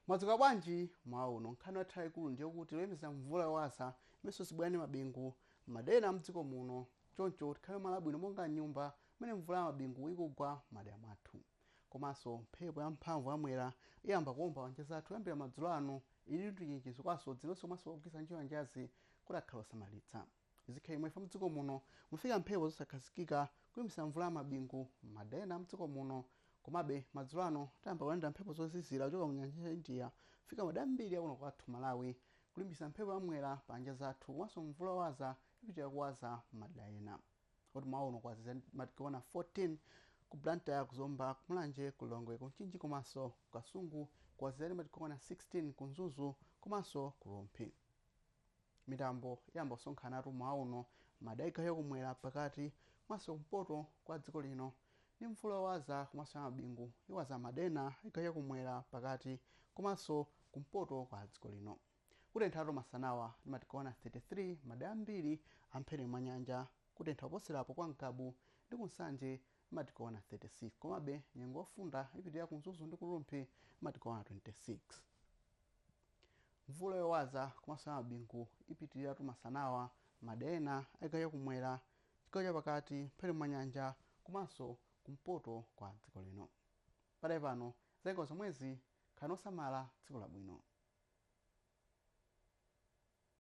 mwadzuka bwanji mmawa uno nkhani yathu yayikulu ndiye kuti tiyembekezere mvula yowaza imenso izibwera ndi mabingu madera ena a mdziko muno choncho tikhale malo abwino monga mnyumba mmene mvula ya mabingu ikugwa madera mwathu komanso mphepo ya mphamvu yamwera iyamba kuomba pa nyanja zathu kuyambira madzulo ano ili ndi chenjezo kwa asodzi nonse komanso ogwiritsa ntchito nyanjazi kuti akhale osamalitsa Zikhala chomwechi chifukwa mdziko muno mufika mphepo zosakhazikika kulimbitsa mvula ya mabingu m'madera ena a mdziko muno. Komabe, madzulo ano tayamba kulandira mphepo zozizira kuchoka mu nyanja ya India kufika madera ambiri akuno kwathu Malawi, kulimbitsa mphepo ya Mwera pa nyanja zathu komanso mvula yowaza ipitilira kuwaza m'madera ena. Kuti mmawa uno kwazizira ndi madigiri okwana 14 ku Blantyre, ku Zomba, ku Mulanje, ku Lilongwe, ku Mchinji komanso ku Kasungu, kwazizira ndi madigiri okwana 16 ku Mzuzu komanso ku Rumphi. Mitambo iyamba kusonkhanatu mmawa uno m'madera a chigawo chakumwera pakati komanso kumpoto kwa dziko lino ndi mvula yowaza komanso ya mabingu iwaza m'madera ena a chigawo chakumwera pakati komanso kumpoto kwa dziko lino. Kutenthatu masanawa ndi madigiri okwana 33 m'madera ambiri a mphepete mwa nyanja. Kutentha koposerapo kwa Ngabu ndi ku Nsanje ndi madigiri okwana 36 komabe nyengo yofunda ipitilira ku Mzuzu ndi ku Rumphi ndi madigiri okwana 26. Mvula yowaza komanso ya mabingu ipitiliratu masanawa m'madera ena a chigawo chakumwera, chigawo chapakati, mphepete mwa nyanja komanso kumpoto kwa dziko lino. Pakadali pano zanyengo zomwezi, khalani osamala, tsiku labwino.